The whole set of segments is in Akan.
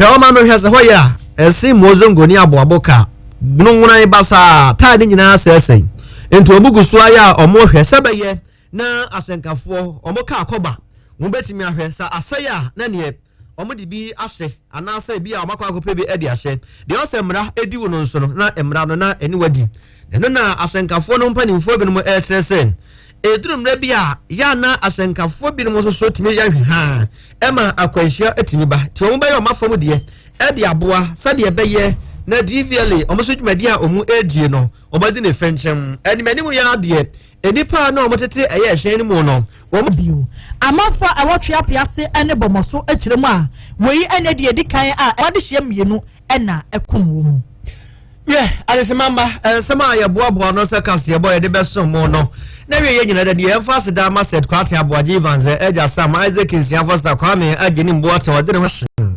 Hwɛ ɔman no hwɛ sɛ hɔ yɛ a, ɛsen Muozongo ne aboabo ka, nwonan basaa, taa ne nyinaa asɛesɛe. Enti wɔn gu so ayɛ a wɔhwɛ sɛ bɛyɛ na asɛnkafoɔ wɔn kaa kɔba, wɔbɛtumi ahwɛ sɛ asɛe a na neɛ wɔde bi ahyɛ anaasɛ bi a wɔakɔ akɔpɛ bi de ahyɛ. Deɛ ɔsɛ mmara di wo no nso no na mmara no na ɛne wadi. Ɛno na asɛnkafoɔ no mpanimfoɔ binom rekyerɛ sɛ, ɛduru mmerɛ bi a, yɛ a na asɛnkafoɔ binom nso so tumi yɛ ahwehwaa ma akwanhyia tumi ba, nti wɔn bɛyɛ wɔn afa mu deɛ de aboa sɛdeɛ ɛbɛyɛ na DVLA wɔn nso dwumadie a wɔn redie no, wɔn adi ne fɛnkyɛm. Anim anim yi ara deɛ, nnipa a na wɔn tete ɛyɛ ɛhyɛn no mu no, wɔn. Bio. Amanfoɔ a ɛwɔ Tweape ase ne Bɔmɔso kyerɛ mu a, wei ne deɛ ɛdi kan a ɛwɔ adehyeɛ mmienu. ɛna ɛkum wo mu. Yɛ adesima mma nsɛm a yɛboaboa no sɛ kaseɛbɔ yɛde bɛsom mo no na wie yɛ nyina da deɛ ɛmfa ase daa ma sɛt kwate aboagye evans agya sam isaac nsia fosta kwame agye ne mboa te ɔde ne ho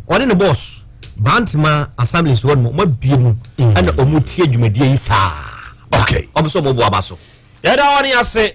ɔne ne bɔs bantama assemblies hɔ nom ɔma bie mu ɛna ɔmo tie dwumadie yi saa ɔmo sɛ ɔmo boa ba so yɛda ɔne ase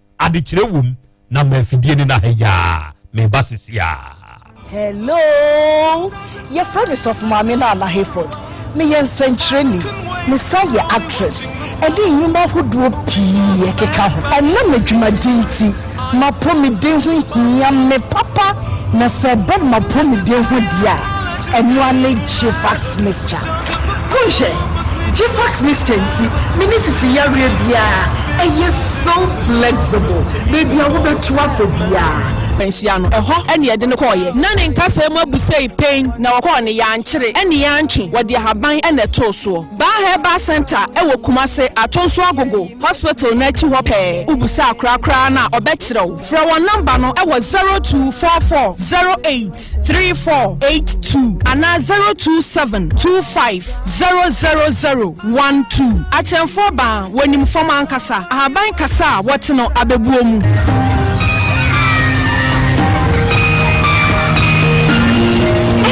Adekyerɛ wom na ma afidie no na ha yi aa meba sisi aa. Hello! Yɛfrɛ me Sɔfo Maame Nana Hayford. Meyɛ nsɛnkyerɛnni. Mesan yɛ actress ne nnwuma ahodoɔ pii ɛkeka ho. Ɛnam m'adwumadeɛ nti, m'apɔmuden ho hia me papa, na sɛ ɛba m'apɔmuden ho deɛ a, Ɛnoa ne Gffax Mixture. Monhwɛ! Gffax Mixture nti me ne sisi yareɛ biara ɛyɛ so flexible. Baabi a wobɛto afɔ biara. Nhyia no, ɛhɔ na yɛde no kɔeɛ. Ná ne nkasɛɛ mu abu sei pɛn. Na wɔkɔɔ no, yɛankyere ne yɛantwe, wɔde ahaban na ɛtoo soɔ. Baa Herbal Centre wɔ Kumase, Atonso Agogo Hospital no akyi hɔ pɛɛ. Wobusa akorakoraa no a, ɔbɛkyerɛ wo. Frɛ wɔn nɔmba no wɔ zero two four four zero eight. three four eight two anaa zero two seven two five zero zero zero one two akyɛnfoɔ baa wɔnim fam ankasa ahaban kasa a wɔte no abɛbuo mu.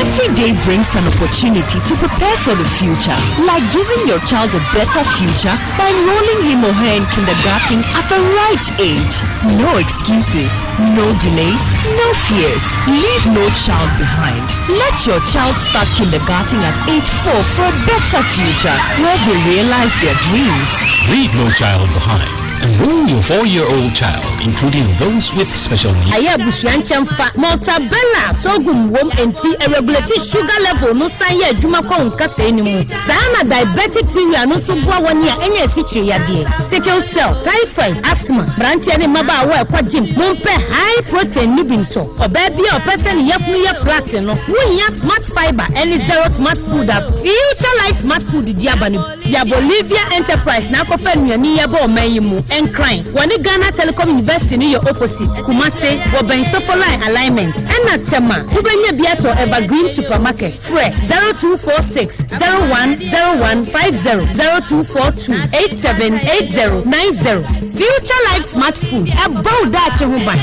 Every day brings an opportunity to prepare for the future, like giving your child a better future by enrolling him or her in kindergarten at the right age. No excuses, no delays, no fears. Leave no child behind. Let your child start kindergarten at age four for a better future where they realize their dreams. Leave no child behind. Enroll your four-year-old child, including those with special needs. Ɛyɛ abusua nkyɛnfa. Mortadella, sorghum wom, enti ɛregulate sugar level no san yɛ adwuma kɔ wo nkasɛɛ no mu. Saa ara na diabɛtikteria no nso boa wɔn a anya asikyire yadeɛ, sickle cell, typhoid, asthma, mmeranteɛ ne mmabaawa a ɛkɔ gym. Mompɛ high protein no bi ntɔ. Ɔbaa bi a ɔpɛ sɛ ne yafunu yɛ flat no, wohia Smart Fibre ne Zero Smart Food a Future Life Smart Food de aba no bi. Yɛa Bolivia Enterprise na akɔfa nnuane yi aba ɔman yi mu. Nkran, wɔne Ghana Telecom University no yɛ opposite, Kumasi, wɔbɛn Sofo Line alignment. Ɛna Tema, wobɛnya bi atɔ Evergreen Supermarket. Frɛ 0246 01 01 50 0242 87 80 90. Future Life Smart Food ɛbɔ wo daakye ho ban.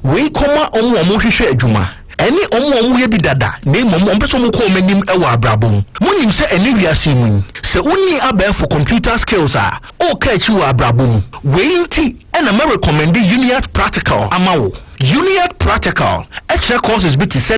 Wei kɔma wɔn a wɔhwehwɛ adwuma ɛne wɔn a wɔyɛ bi dada na mmom wɔn pɛ sɛ wɔn kɔ wɔn anim wɔ abrabɔ mu. Monim sɛ ɛne wiase mu yi, sɛ wonni abɛɛfo computer skills a, woka akyi wɔ abrabɔ mu. Wei nti na mɛrekɔmɛnde Uniat Practical ama wo. Uniat Practical kyerɛ courses bi te sɛ.